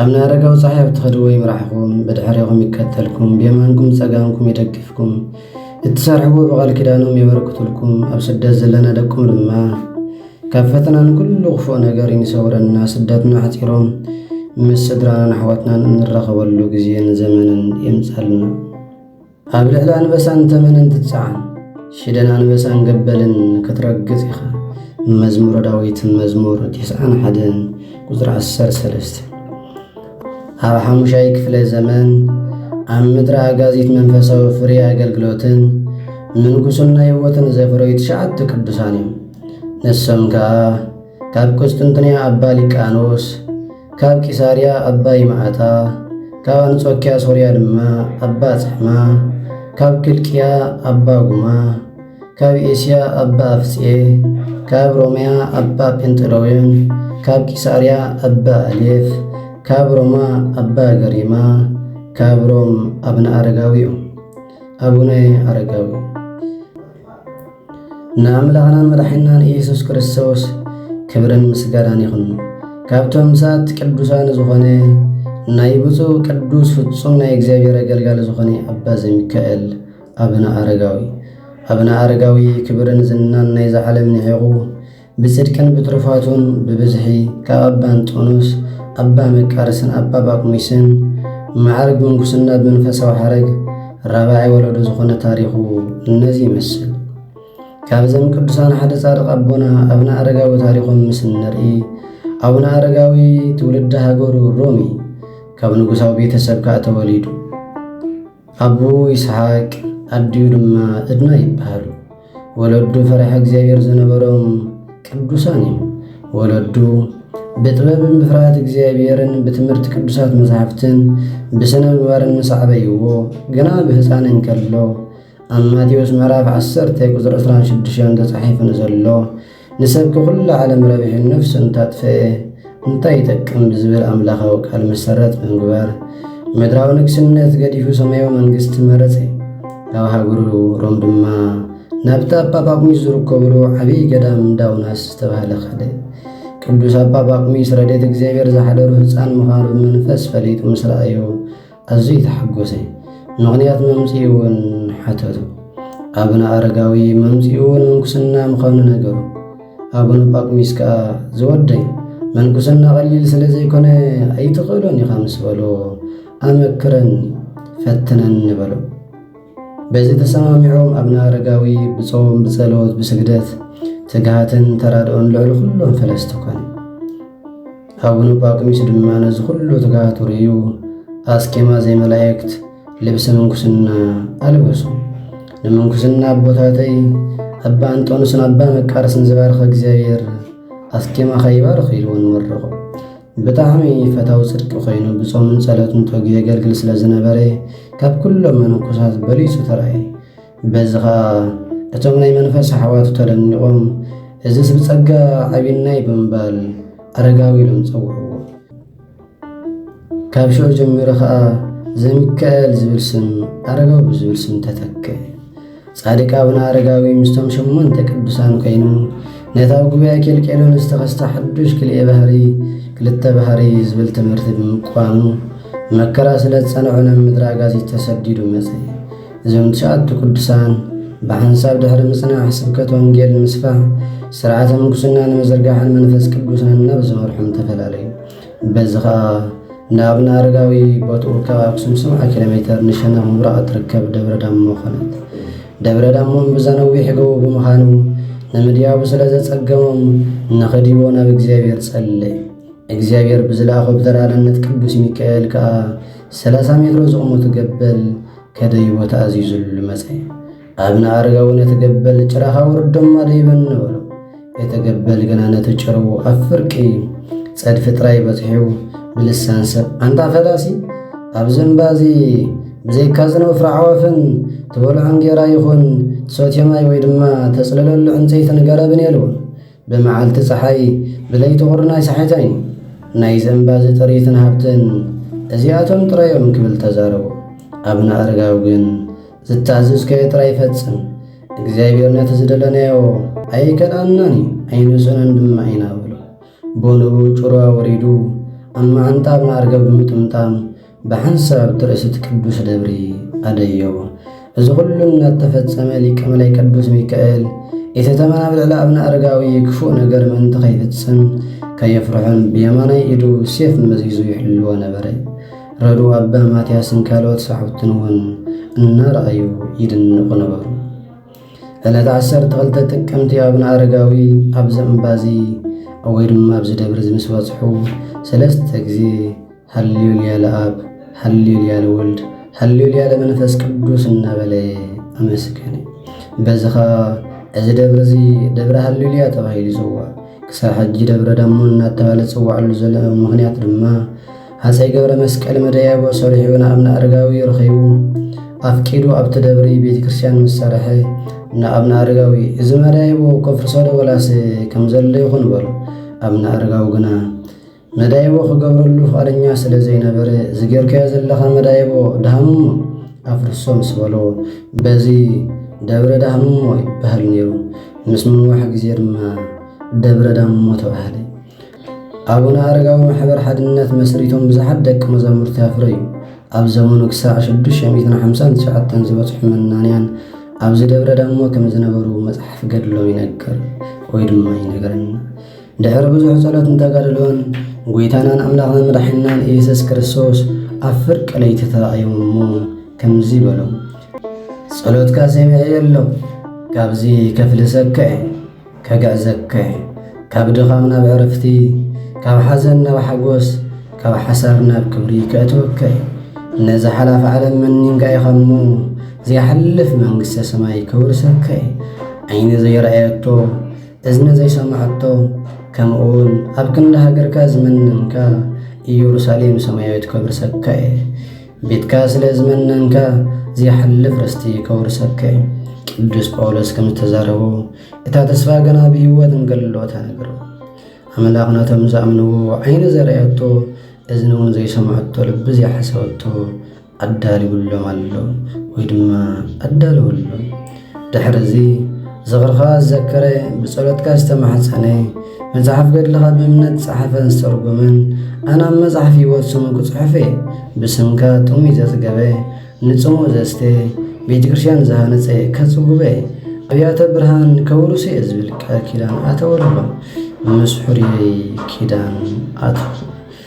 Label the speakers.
Speaker 1: ኣብነ ኣረጋዊ ፀሓይ ኣብ ትኸድዎ ይምራሕኹም፣ ብድሕሬኹም ይከተልኩም፣ ብየማንኩም ፀጋምኩም ይደግፍኩም፣ እትሰርሕዎ ብቓል ኪዳኖም የበርክቱልኩም። ኣብ ስደት ዘለና ደቁም ድማ ካብ ፈተናን ኩሉ ክፉእ ነገር ይንሰውረና። ስደትና ኣሕፂሮም ምስ ስድራናን ኣሕዋትናን እንራኸበሉ ግዜን ዘመንን የምፃልና። ኣብ ልዕሊ ኣንበሳን ተመንን ትጸዓን ሽደን ኣንበሳን ገበልን ክትረግጽ ኢኻ መዝሙረ ዳዊት መዝሙር ቴስዓን ሓደን ቁፅሪ ዓሰር ሰለስተ ኣብ ሓሙሻይ ክፍለ ዘመን ኣብ ምድሪ ኣጋዚት መንፈሳዊ ፍሬ ኣገልግሎትን ምንኩስና ህይወትን ዘፍረዩ ትሽዓተ ቅዱሳን እዮም። ንሶም ከዓ ካብ ቁስጥንጥንያ ኣባ ሊቃኖስ ካብ ቂሳርያ ኣባ ይምዓታ፣ ካብ ኣንጾኪያ ሶርያ ድማ ኣባ ጽሕማ፣ ካብ ክልቅያ ኣባ ጉማ፣ ካብ ኤስያ ኣባ ኣፍጼ፣ ካብ ሮምያ ኣባ ጴንጥሎዮን፣ ካብ ቂሳርያ ኣባ ኣሌፍ፣ ካብ ሮማ ኣባ ገሪማ፣ ካብ ሮም ኣብነ ኣረጋዊ እዮም። ኣቡነ ኣረጋዊ ንኣምላኽናን መድሓኒናን ኢየሱስ ክርስቶስ ክብርን ምስጋናን ይኹን። ካብቶም ምሳት ቅዱሳን ዝኾነ ናይ ብፁዕ ቅዱስ ፍጹም ናይ እግዚኣብሔር ኣገልጋሊ ዝኾነ ኣባ ዘሚካኤል ኣብነ ኣረጋዊ ኣብነ ኣረጋዊ ክብርን ዝናን ናይዛ ዓለም ንዒቑ ብጽድቅን ብትሩፋቱን ብብዝሒ ካብ ኣባ እንጦንዮስ፣ ኣባ መቃርስን ኣባ ጳኩሚስን መዓርግ ምንኩስና ብመንፈሳዊ ሓረግ ራብዓይ ወለዶ ዝኾነ ታሪኹ እነዚ ይመስል። ካብዘም ቅዱሳን ሓደ ጻድቕ ኣቦና ኣብነ ኣረጋዊ ታሪኾም ምስ እንርኢ ኣቡነ ኣረጋዊ ትውልዲ ሃገሩ ሮሚ ካብ ንጉሳዊ ቤተሰብ ከዓ ተወሊዱ ኣቡ ይስሓቅ ኣዲኡ ድማ እድና ይበሃሉ። ወለዱ ፈሪሓ እግዚኣብሔር ዝነበሮም ቅዱሳን እዮም። ወለዱ ብጥበብን ብፍርሃት እግዚኣብሔርን ብትምህርቲ ቅዱሳት መጻሕፍትን ብስነ ምግባርን ምስ ኣዕበይዎ ግና ብህፃን እንከሎ ኣብ ማቴዎስ ምዕራፍ 10 ቁፅሪ 26 ተፃሒፉ ንዘሎ ንሰብ ክኹሉ ዓለም ረቢሑ ነፍሱ እንታጥፈኤ እንታይ ይጠቅም ብዝብል ኣምላኻዊ ቃል መሰረት ብምግባር ምድራዊ ንግስነት ገዲፉ ሰማያዊ መንግስቲ መረጸ። ካብ ሃገሩ ሮም ድማ ናብቲ ኣባ ጳቁሚስ ዝርከብሉ ዓብዪ ገዳም እንዳውናስ ዝተባህለ ኸደ። ቅዱስ ኣባ ጳቁሚስ ረድኤት እግዚኣብሔር ዝሓደሩ ህፃን ምዃኑ ብመንፈስ ፈሊጡ ምስ ረኣዮ ኣዝዩ ተሓጎሰ። ምኽንያት መምጽኢ እውን ሓተቱ። ኣቡነ ኣረጋዊ መምጽኡ እውን ምንኩስና ምዃኑ ነገሩ። ኣቡነ ጳኩሚስ ከኣ ዝወደይ መንኩስና ቐሊል ስለ ዘይኮነ ኣይትኽእሎን ኢኻ ምስ በሎ ኣመክረኒ ፈትነኒ በሎ። በዚ ተሰማሚዖም ኣብነ ኣረጋዊ ብጾም ብጸሎት ብስግደት ትግሃትን ተራድኦን ልዕሊ ኩሎም ፈለስቲ ኮነ። ኣቡነ ጳቁሚስ ድማ ነዚ ኩሉ ትግሃቱ ርእዩ ኣስኬማ ዘይመላእክት ልብሲ ምንኩስና ኣልበሱ። ንምንኩስና ኣቦታተይ ኣባ እንጦንስን ኣባ መቃርስን ዝባርኸ እግዚኣብሔር ኣስኬማኻ ይባርኽ ኢልዎ ንመረቑ። ብጣዕሚ ፈታዊ ጽድቂ ኮይኑ ብጾምን ጸሎትን ተግዩ የገልግል ስለ ዝነበረ ካብ ኩሎም መነኮሳት በሊጹ ተራእየ። በዚ ኸኣ እቶም ናይ መንፈስ ኣሕዋቱ ተደኒቖም እዝስ ብጸጋ ዓቢናይ ብምባል ኣረጋዊ ኢሎም ጸውዕዎ። ካብ ሽዑ ጀሚሩ ኸኣ ዘሚካኤል ዝብል ስም ኣረጋዊ ብዝብል ስም ተተክአ። ጻድቅ ኣቡነ ኣረጋዊ ምስቶም ሸሞንተ ቅዱሳን ኮይኑ ነቲ ኣብ ጉባኤ ኬልቄዶን ዝተኸስተ ሓዱሽ ክልኤ ባህሪ ክልተ ባህሪ ዝብል ትምህርቲ ብምቋሙ መከራ ስለ ዝጸንዖ ናብ ምድረ ኣጋዚት ተሰዲዱ መጸ። እዞም ትሽዓቱ ቅዱሳን ብሓንሳብ ድሕሪ ምጽናሕ ስብከት ወንጌል ንምስፋሕ ስርዓተ ምንኩስና ንምዝርጋሕን መንፈስ ቅዱስ ናብ ዝመርሖም ተፈላለዩ። በዚ ኸኣ ንኣብነ ኣረጋዊ ቦትኡ ካብ ኣክሱም ሰብዓ ኪሎ ሜተር ንሸነኽ ምብራቕ እትርከብ ደብረ ዳሞ ኾነት። ደብረ ዳሞ እምብዛ ነዊሕ ጎቦ ብምዃኑ ንምድያቡ ስለ ዘጸገሞም ንኽድይቦ ናብ እግዚኣብሔር ጸለዩ። እግዚኣብሔር ብዝለኣኾ ብተራዳነት ቅዱስ ሚካኤል ከኣ ሰላሳ ሜትሮ ዝቑመቱ ገበል ከደይቦ ተኣዚዙሉ መጸ። ኣብነ ኣረጋዊ ነቲ ገበል ጭራኻ ውርዶማ ደይበን ነበሮ እቲ ገበል ግና ነቲ ጭሩ ኣብ ፍርቂ ጸድፊ ጥራይ በጽሑ ብልሳን ሰብ ኣንታ ፈላሲ ኣብዚ እምባ እዚ ብዘይካ ዝነው ፍራዕዋፍን ትበልዖ እንጌራ ይኹን ትሰትዮ ማይ ወይ ድማ ተጽልለሉ ዕንጸይትን ገረብን የልውን ብመዓልቲ ፀሓይ ብለይቲ ቁርን ኣይሰሓይተን እዩ ናይ ዘንባዚ ጥሪትን ሃብትን እዚኣቶም ጥራዮም ክብል ተዛረቡ ኣብነ ኣረጋዊ ግን ዝታዘዝካዮ ጥራይ ፈጽም፣ እግዚኣብሔር ነቲ ዝደለናዮ ኣይከልኣናን እዩ፣ ኣይንሰኖን ድማ ኢና በሎ። ቦንኡ ጭሮ ወሪዱ ኣብ መዓንጣብ መርገብ ብምጥምጣም ብሓንሳብ ትርእስት ቅዱስ ደብሪ ኣደዮ። እዚ ኹሉ እናተፈጸመ ሊቀ መላይ ቅዱስ ሚካኤል የተተመና ብልዕሊ ኣብነ ኣረጋዊ ክፉእ ነገር ምእንቲ ከይፍጽም ከየፍርሑን ብየማናይ ኢዱ ሴፍ መዚዙ ይሕልዎ ነበረ። ረድኡ ኣባ ማትያስን ካልኦት ሰዓብትን እውን እናረኣዩ ይድንቑ ነበሩ። ዕለት ዓሰርተ ክልተ ጥቅምቲ ኣብነ ኣረጋዊ ኣብዚ እምባዚ ወይ ድማ ኣብዚ ደብሪ እዚ ምስ በጽሑ ሰለስተ ግዜ ሃሌሉያ ለኣብ፣ ሃሌሉያ ለወልድ፣ ሃሌሉያ ለመንፈስ ቅዱስ እናበለ ኣመስገነ። በዚ ኸኣ እዚ ደብሪ እዚ ደብረ ሃሌሉያ ተባሂሉ ይጽዋዕ። ክሳብ ሕጂ ደብረ ዳሞ እናተባህለ ዝጽዋዕሉ ዘሎ ምኽንያት ድማ ሃፀይ ገብረ መስቀል መደያይቦ ሰሪሑ ንኣብነ ኣረጋዊ ረኺቡ ኣፍቂዱ ኣብቲ ደብሪ ቤተ ክርስቲያን ምስ ሰረሐ ንኣብነ ኣረጋዊ እዚ መደያይቦ ከፍርሶ ዶ ወላስ ከምዘሎ ይኹን በሉ። ኣብነ ኣረጋዊ ግና መዳይቦ ክገብረሉ ፍቓደኛ ስለ ዘይነበረ ዝጌርካዮ ዘለኻ መዳይቦ ዳህምሞ ኣፍርሶ ምስ በሎ በዚ ደብረ ዳህምሞ ይበሃል ነይሩ። ምስ ምንዋሕ ግዜ ድማ ደብረ ዳምሞ ተባህለ። ኣቡነ ኣረጋዊ ማሕበር ሓድነት መስሪቶም ብዙሓት ደቂ መዛሙርቲ ኣፍረዩ። ኣብ ዘመኑ ክሳዕ 659 ዝበጽሑ መናንያን ኣብዚ ደብረ ዳሞ ከም ዝነበሩ መጽሓፍ ገድሎም ይነግር ወይ ድማ ይነግረና። ድሕሪ ብዙሕ ጸሎትን ተጋድሎን ጐይታናን ኣምላኽና መድሓኒናን ኢየሱስ ክርስቶስ ኣብ ፍርቂ ለይቲ ተራእዮም እሞ ከምዚ በሎም፣ ጸሎትካ ሰሚዐዮ ኣለኹ፣ ካብዚ ከፍልሰካ እየ። ከግዕዘካ'የ ካብ ድኻም ናብ ዕርፍቲ ካብ ሓዘን ናብ ሓጎስ ካብ ሓሳር ናብ ክብሪ ከእትወካ'የ ነዛ ሓላፍ ዓለም መኒንካ ኢኻ'ሞ ዘይሓልፍ መንግስተ ሰማይ ከውርሰካ'የ ዓይኒ ዘይረኣየቶ እዝኒ ዘይሰማዐቶ ከምኡውን ኣብ ክንዲ ሃገርካ ዝመነንካ ኢየሩሳሌም ሰማያዊት ከውርሰካ'የ ቤትካ ስለ ዝመነንካ ዘይሓልፍ ርስቲ ከውርሰካ እዩ። ቅዱስ ጳውሎስ ከም ዝተዛረቦ እታ ተስፋ ገና ብህይወት እንከሎ ተነግሮ ኣምላኽ ነቶም ዝኣምንዎ ዓይኒ ዘርኣየቶ እዝኒ እውን ዘይሰምዐቶ ልቢ ዘይሓሰበቶ ኣዳልውሎም ኣሎ ወይ ድማ ኣዳልወሎም። ድሕሪ እዚ ዝኽርኻ ዝዘከረ ብጸሎትካ ዝተማሕጸነ መጽሓፍ ገድልኻ ብእምነት ዝጸሓፈን ዝተርጎመን ኣነ ኣብ መጽሓፍ ህይወት ስሙ ክጽሑፍ እየ ብስምካ ጥሙይ ዘጽገበ ንጽሙ ዘስተ ቤተ ክርስቲያን ዝሃነጸ ከጽጉበ ኣብያተ ብርሃን ከውርሱ እየ ዝብል ቃል ኪዳን ኣተወልሎ ምስ ሕሩየይ ኪዳን ኣቶ